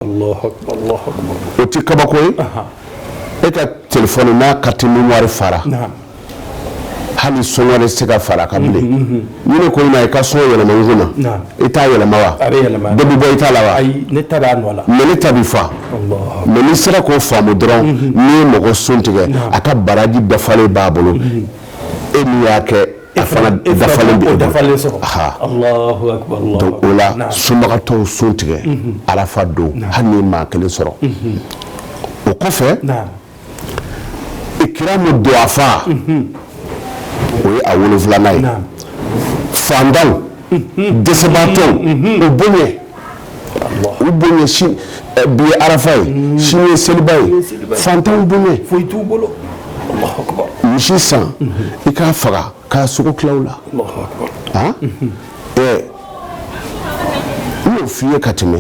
o tɛ kabako ye e ka telefɔni n'a carte mémoire fara hali son wɛrɛ se ka fara kan bilen ne ko i ma i ka son yɛlɛma n kunna i t'a yɛlɛma wa dɔ bɛ bɔ i ta la wa mɛ ne ta bɛ fa mɛ n'i sera k'o faamu dɔrɔn n'i ye mɔgɔ sun tigɛ a ka baraji bɛɛ falen b'a bolo e min y'a kɛ E fana e dafalen bɛ e bolo. dafalen sɔrɔ. Aha. Alahu akibaru, Alahu Donc o la akibaru. Naam. sunbagatɔw sun tigɛ arafa don hali n'i ye maa kelen sɔrɔ o kɔfɛ Naam. ikiramu duwafa o ye a wolonfilanan ye Naam. fantanw dɛsɛbaatɔw u bonya U bonya bi ye arafa ye sini ye seliba ye fantanw bonya foyi t'u bolo misi san i k'a faga k'a sogo tila u la ɛɛ n y'o fɔ i ye ka tɛmɛ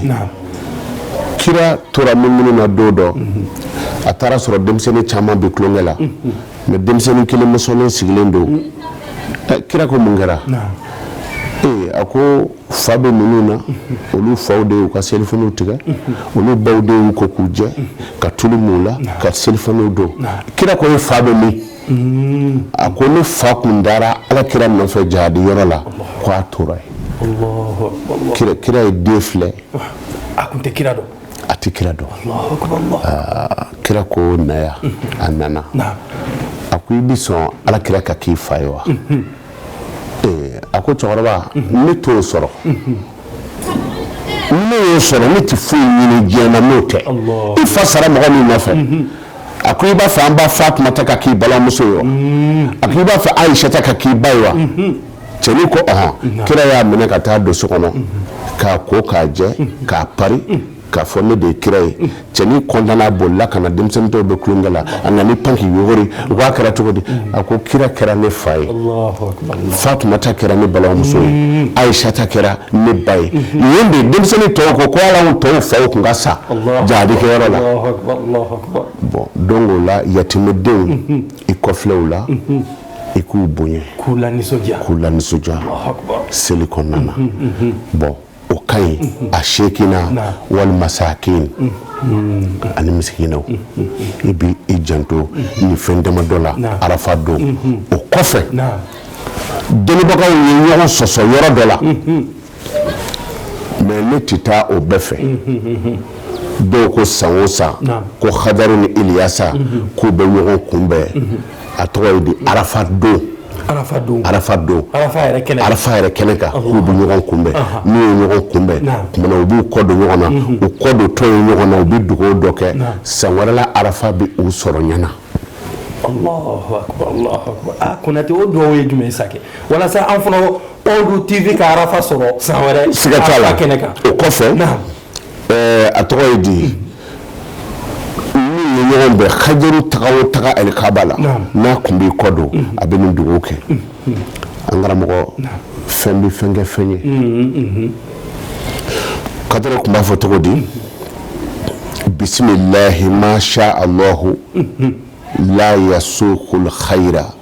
kira tora munumunu na don dɔ a taara sɔrɔ denmisɛnnin caman bɛ tulonkɛ la mɛ denmisɛnnin kelen mɔsɔnnen sigilen don kira ko mun kɛra ee a ko fa bɛ ninnu na olu faw de y'u ka selifaniw tigɛ olu baw de y'u ko k'u jɛ ka tulu mu u la ka selifaniw don kira ko e fa bɛ min mm. a ko ne fa kun taara ala kira nɔfɛ jihadi yɔrɔ la ko a tora yen kira ye den filɛ a kun tɛ kira dɔn a tɛ kira dɔn ah, kira ko na yan a nana a ko i bɛ sɔn ala kira ka k'i fa ye wa mm-hmm. a ko cɛkɔrɔba ne t'o sɔrɔ ne y'o sɔrɔ ne tɛ foyi ɲini diɲɛ na n'o tɛ i fa sara mɔgɔ min nɔfɛ a ko i b'a fɛ an ba fatumata ka k'i balimamuso ye wa a ko i b'a fɛ ayisata ka k'i ba ye wa cɛnin ko ɔnhɔn kira y'a minɛ ka taa don so kɔnɔ k'a ko k'a jɛ k'a pari k'a fɔ ne de ye kira ye cɛnin kɔntanna bolila ka na denmisɛnnin tɔw bɛ tulonkɛ la a nana pan k'i yogori u k'a kɛra cogo di a ko kira kɛra ne fa ye fatumata kɛra ne balimamuso ye mm. ayisata kɛra ne ba ye mm-hmm. yen de denmisɛnnin tɔw ko ko ala tɔw faw tun ka sa jihadikɛyɔrɔ la bɔn donc o la yatimedenw mm-hmm. i kɔ filɛ u la mm-hmm. i k'u bonya k'u lanisɔndiya k'u lanisɔndiya seli kɔnɔna na bɔn o ka ɲi a sekina wali masakini ani misikinaw i bɛ i janto nin fɛn dama dɔ la arafa don o kɔfɛ dɔnnibagaw ye ɲɔgɔn sɔsɔ yɔrɔ dɔ la mɛ ne tɛ taa o bɛɛ fɛ dɔw ko san o san ko hadaru ni iliyasa k'u bɛ ɲɔgɔn kunbɛn a tɔgɔ ye di arafa don arafa don arafa yɛrɛ kɛnɛ kan k'u bɛ ɲɔgɔn kunbɛn n'u ye ɲɔgɔn kunbɛn tuma na u b'u kɔ don ɲɔgɔn na mhm. u kɔ dontɔ ye ɲɔgɔn na u bɛ dugawu dɔ kɛ san wɛrɛ la arafa bɛ u sɔrɔ ɲɛna ah, konatɛ o dugawu ye jumɛn sa walasa an fana tɔw tv ka arafa sɔrɔ san wɛrɛ siga t'a la kɛnɛ kan o kɔfɛ a tɔgɔ ye di n'u ye ɲɔgɔn bɛn hajaru taga o taga alikaba la n'a tun b'i kɔ don a bɛ nin dugawu kɛ an karamɔgɔ fɛn bɛ fɛn kɛ fɛn ye kadara tun b'a fɔ cogo di bisimilahi masha alahu la yasukul hayira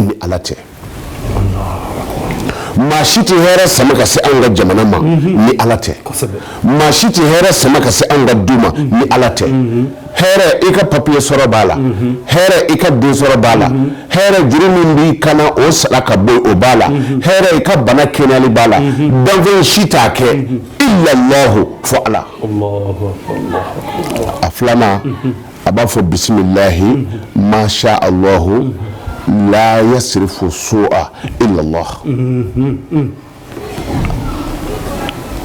ni ala tɛ maa si tɛ hɛrɛ sama ka se an ka jamana ma mhm. ni ala tɛ maa si tɛ hɛrɛ sama ka se an ka du ma mhm. ni ala tɛ mhm. hɛrɛ i ka papiye sɔrɔ b'a la hɛrɛ i ka den sɔrɔ b'a la hɛrɛ juru min b'i kan na o sara ka bɔ o b'a la hɛrɛ i ka bana kɛnɛyali b'a la danfɛn si t'a kɛ ilalahu fɔ ala a filanan a b'a fɔ bisimilahi masha alahu la yasirifu su'a ilalahu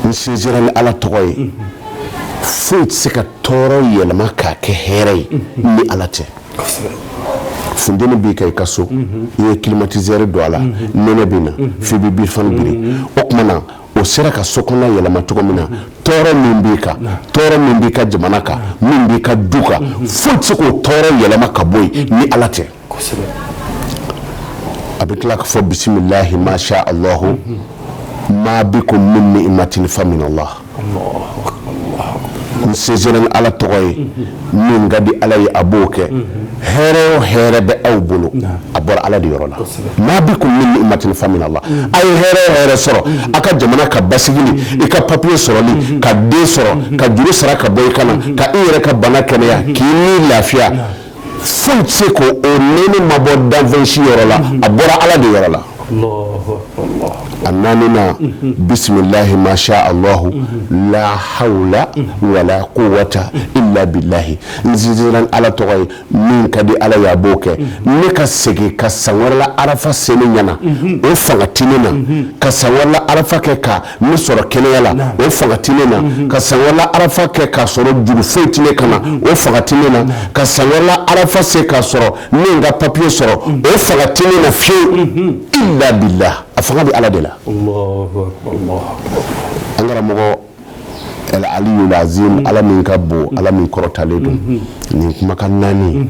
n sinsira ni ala tɔgɔ ye foyi tɛ se ka tɔɔrɔ yɛlɛma k'a kɛ hɛrɛ ye ni ala tɛ funteni b'i kan i ka so i ye climatiseur don a la nɛnɛ bɛ na f'i bɛ birifani biri o tuma na o sera ka so kɔnɔ yɛlɛma cogo min na tɔɔrɔ min b'i kan tɔɔrɔ min b'i ka jamana kan min b'i ka du kan foyi tɛ se k'o tɔɔrɔ yɛlɛma ka bɔ yen ni ala tɛ a bɛ tila k'a fɔ bisimilahi masha alahu ma bikum min niimatin fa minalahi n sinsira ni ala tɔgɔ ye min ka di ala ye a b'o kɛ hɛrɛ o hɛrɛ bɛ aw bolo a bɔra ala de yɔrɔ la ma bikum min niimatin fa minalahi a ye hɛrɛ o hɛrɛ sɔrɔ a ka jamana ka basigili i ka papiye sɔrɔli ka den sɔrɔ ka juru sara ka bɔ i kan na ka i yɛrɛ ka bana kɛnɛya k'i ni lafiya foyi tɛ se ko o nɛɛma ma bɔ danfɛn si yɔrɔ la a bɔra ala de yɔrɔ la a naaninan bisimilahi masha alahu la hawla wala kuwata ila bilahi n sinsira ni ala tɔgɔ ye min ka di ala y'a b'o kɛ ne ka segin ka san wɛrɛ la arafa se ne ɲɛna o fanga tɛ ne na ka san wɛrɛ la arafa kɛ ka ne sɔrɔ kɛnɛya la o fanga tɛ ne na ka san wɛrɛ la arafa kɛ k'a sɔrɔ juru foyi tɛ ne kan na o fanga tɛ ne na ka san wɛrɛ la arafa se k'a sɔrɔ n ye n ka papiye sɔrɔ o fanga tɛ ne na fiyewu ila bilahi a fanga bɛ ala de la an karamɔgɔ al aliyul azim ala min ka bon ala min kɔrɔtalen don nin kumakan naani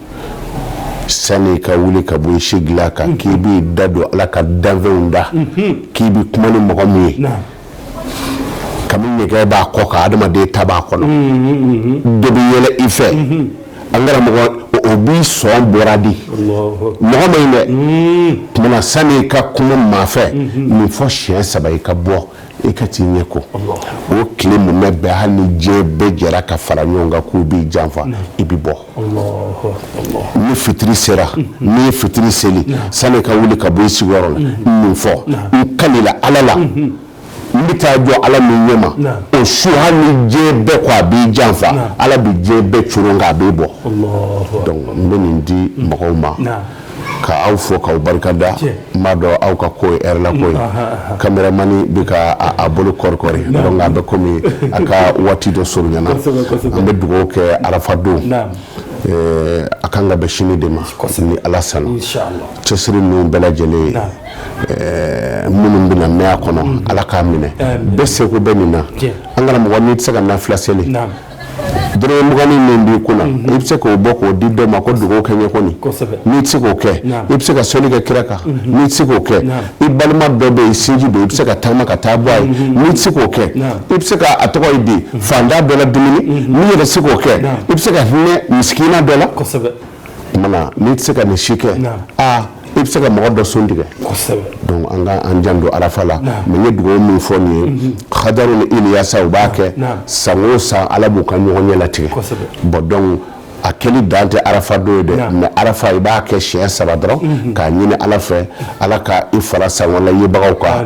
sani ka wuli ka bɔ i si dilan kan k'i b'i da don ala ka danfɛnw da k'i bɛ kuma ni mɔgɔ min ye kami ɲɛgɛn b'a kɔ kan adamaden ta b'a kɔnɔ dɔ bɛ yɛlɛ i fɛ an karamɔgɔ o b'i sɔn bɔra di mɔgɔ man ɲi dɛ tuma na sani ka kuma maa fɛ nin fɔ siɲɛ saba i ka bɔ i ka t'i ɲɛ ko o tile mumɛ bɛɛ hali ni diɲɛ bɛɛ jɛra ka fara ɲɔgɔn kan k'u b'i janfa i bɛ bɔ Ni fitiri sera n'i ye fitiri seli sani ka wuli ka bɔ i sigiyɔrɔ la nin fɔ n kalila ala la n bɛ taa jɔ ala min ɲɛ ma o su hali ni diɲɛ bɛɛ ko a b'i janfa ala bɛ diɲɛ bɛɛ coron k'a b'i bɔ donc n bɛ nin di mɔgɔw ma ka aw fo k'aw barika da n b'a dɔn aw ka ko ye heure la ko ye kameramani bɛ ka a bolo kɔrikɔri donc a bɛ komi a ka waati dɔ surunyana an bɛ dugawu kɛ arafa don a kan ka bɛn sini de ma ni ala sɔnna cɛsiri ninnu bɛɛ lajɛlen minnu bɛna mɛn a kɔnɔ ala k'a minɛ bɛɛ seko bɛ nin na an karamɔgɔ n'i tɛ se ka nafila seli Dɔrɔmɛ mugan min b'i kunna i bɛ se k'o bɔ k'o di dɔ ma ko dugawu kɛ n ye kɔni n'i tɛ se k'o kɛ i bɛ se ka sɔli kɛ kira kan n'i tɛ se k'o kɛ i balima dɔ bɛ yen sinji don i bɛ se ka taama ka taa bɔ a ye n'i tɛ se k'o kɛ i bɛ se k'a tɔgɔ ye di faantan dɔ la dumuni n'i yɛrɛ se k'o kɛ i bɛ se ka hinɛ misikina dɔ la Tuma na n'i tɛ se ka nin si kɛ aa i bɛ se ka mɔgɔ dɔ sun tigɛ donc an ka an janto arafa la mais n ye dugawu min fɔ nin ye hadaru ni iliyasa u b'a kɛ san o san ala b'u ka ɲɔgɔnye latigɛ bon donc a kɛli dan tɛ arafa don ye dɛ mais arafa i b'a kɛ siɲɛ saba dɔrɔn k'a ɲini ala fɛ ala ka i fara san kura yebagaw kan